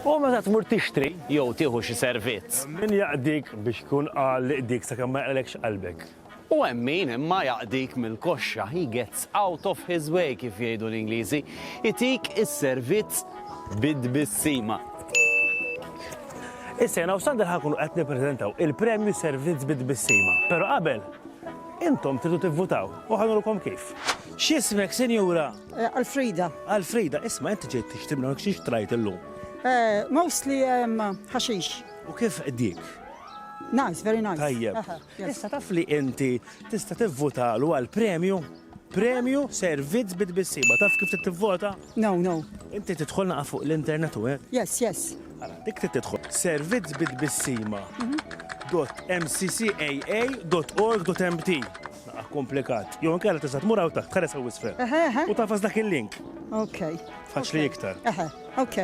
U meta tmur tixtri jew tieħu xi servizz. Min jaqdik biex tkun għal li qdik sakemm ma jaqralekx qalbek? U hemm min imma jaqdik mill-koxxa, he gets out of his way kif jgħidu l-Ingliżi, itik is-servizz bi tbissima. Issa jiena u Sander ħa nkunu qed nippreżentaw il-premju Servizz bi tbissima. Però qabel, intom tridu tivvutaw u ħa nurkom kif. X'ismek, sinjura? Alfrida. Alfrida, isma' inti ġejt tixtri minn hawnhekk xi xtrajt illum? Mostly ħaxix. U kif qdiek? Nice, very nice. Tajjeb. Issa taf li inti tista' tivvutalu għal premju? Premju servizz bi tbissiba. Taf kif trid tivvota? No, no. Inti tidħol naqa' fuq l-internet u hekk? Yes, yes. Ara, dik trid tidħol. Servizz bi tbissima. .mccaa.org.mt Naqgħa komplikat. Jew inkella tista' tmur hawn taħt, tħares hawn isfel. U tafas dak il-link. Ok. Faċli iktar. Ok.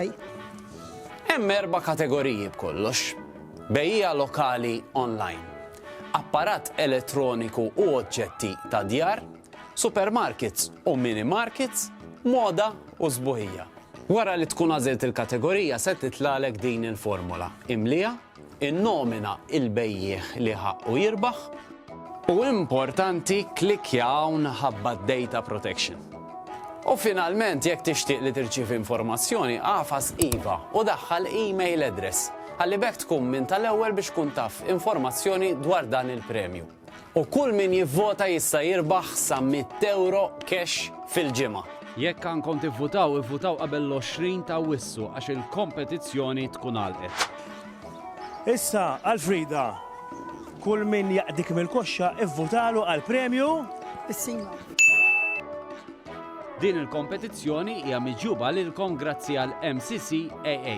Hemm erba' kategoriji b'kollox. Bejja lokali online, apparat elettroniku u oġġetti ta' djar, supermarkets u mini markets, moda u sbuħija. Wara li tkun għażilt il-kategorija se titlalek din il-formola. Imliha Innomina il-bejjiegħ li ħaqqu jirbaħ. U importanti klikkja hawn ħabba d-data protection. U finalment jekk tixtieq li tirċievi informazzjoni agħfas iva u daħħal email address ħalli b'hekk tkun minn tal-ewwel biex tkun taf informazzjoni dwar dan il-premju. U kull min jivvota jista' jirbaħ sa mitt ewro cash fil-ġimgħa. Jekk għandkom tivvutaw, ivvutaw qabel l-20 ta' Awwissu għax il-kompetizzjoni tkun għalqet. Issa għal Frida. Kull min jaqdik mill-koxxa ivvutalu għal premju. Is-Singol. Din il-kompetizzjoni hija miġjuba lilkom grazzi għal MCCAA.